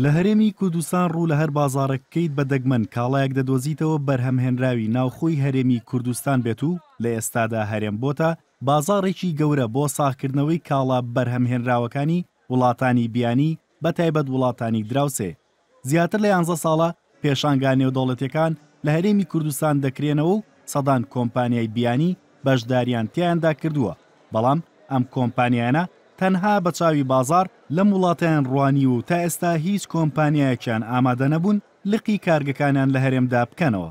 لە هەرێمی کوردستان ڕوو لە هەر بازاڕێک بکەیت بە دەگمەن کاڵایەک دەدۆزیتەوە بەرهەمهێنراوی ناوخۆی هەرێمی کوردستان بێت و لە ئێستادا هەرێم بۆتە بازاڕێکی گەورە بۆ ساغکردنەوەی کاڵا بەرهەمهێنراوەکانی وڵاتانی بیانی بە تایبەت وڵاتانی دراوسێ زیاتر لە یانزە ساڵە پێشانگا نێودەوڵەتییەکان لە هەرێمی کوردستان دەکرێنەوە و سەدان کۆمپانیای بیانی بەشدارییان تیایاندا کردووە، بەڵام ئەم کۆمپانیایانە تەنها بە چاوی بازاڕ لەم وڵاتەیان ڕوانیوە و تا ئێستا هیچ کۆمپانیایەکیان ئامادە نەبوون لقی کارگەکانیان لە هەرێمدا بکەنەوە.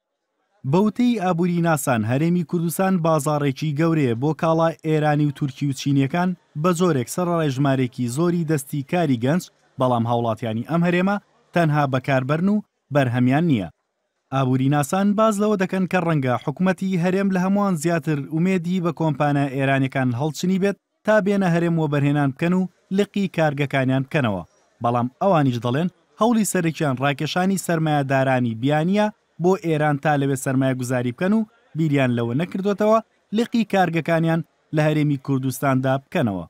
بە وتەی ئابووریناسان، هەرێمی کوردستان بازاڕێکی گەورەیە بۆ کاڵا ئێرانی و تورکی و چینییەکان، بە جۆرێک سەرەڕای ژمارێکی زۆری دەستی کاری گەنج، بەڵام هاوڵاتیانی ئەم هەرێمە تەنها بەکاربەرن و بەرهەمیان نییە. ئابووریناسان باس لەوە دەکەن کە ڕەنگە حکومەتی هەرێم لە هەمووان زیاتر ئومێدی بە کۆمپانیا ئێرانییەکان هەڵچنیبێت تا بێنە هەرێم وەبەرهێنان بکەن و لقی کارگەکانیان بکەنەوە، بەڵام ئەوانیش دەڵێن هەوڵی سەرەکیان ڕاکێشانی سەرمایەدارانی بیانییە بۆ ئێران تا لەوێ سەرمایەگوزاری بکەن و بیریان لەوە نەکردۆتەوە لقی کارگەکانیان لە هەرێمی کوردستاندا بکەنەوە.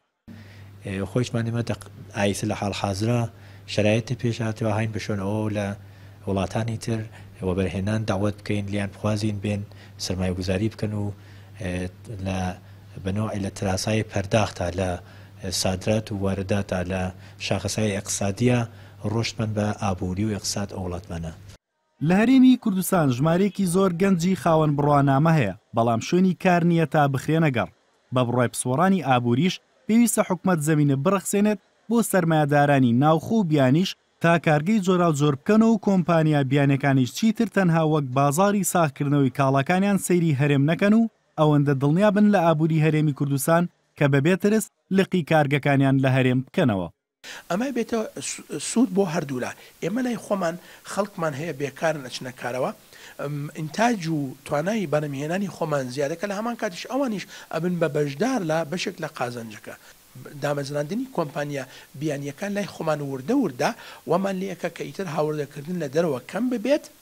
ئێ خۆیشمان ئێمە دەق ئایسە لە حاڵ حازرا شەرایت تە پێش هاتوە هاین بە شۆن ئەوەو لە وڵاتانی تر وەبەرهێنان دەعوەت بکەین لێیان بخوازین بێن سەرمایەگوزاری بکەن و لە بە نەوعی لە ترازهایی پەرداختا، لە سادرات و وارداتا، لە شاخەسای ئێقتسادیا ڕۆشتمان بە ئابووری و ئێقتساد ئەو وڵاتمانە. لە هەرێمی کوردستان ژمارەیەکی زۆر گەنجی خاوەن بڕوانامە هەیە، بەڵام شوێنی کار نییە تا بخرێنە گەڕ. بە بڕوای پسپۆڕانی ئابووریش پێویستە حکومەت زەمینە بڕەخسێنێت بۆ سەرمایەدارانی ناوخۆ و بیانیش تا کارگەی جۆراوجۆر بکەن و کۆمپانیا بیانیەکانیش چیتر تەنها وەک بازاڕی ساغکردنەوەی کاڵاکانیان سەیری هەرێم نەکەن و ئەوەندە دڵنیا بن لە ئابووری هەرێمی کوردستان کە بەبێ ترس لقی کارگەکانیان لە هەرێم بکەنەوە. ئەمە بێتە سوود بۆ هەردوولا، ئێمە لای خۆمان خەڵکمان هەیە بێکارن ئەچنە کارەوە، ئینتاج و توانای بەرهەمهێنانی خۆمان زیادەکە، لە هەمان کاتیش ئەوانیش ئەبن بە بەشدار لە بەشێک لە قازانجەکە. دامەزراندنی کۆمپانیا بیانییەکان لای خۆمان وردە وردە وامان لێ ئەکا کە ئیتر هاوردەکردن لە دەرەوە کەم ببێت،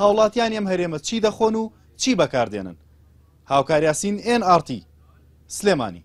هاوڵاتیانی ئەم هەرێمە چی دەخۆن و چی بەکاردێنن؟ هاوکاریاسین ئێن ئاڕ تی، سلێمانی.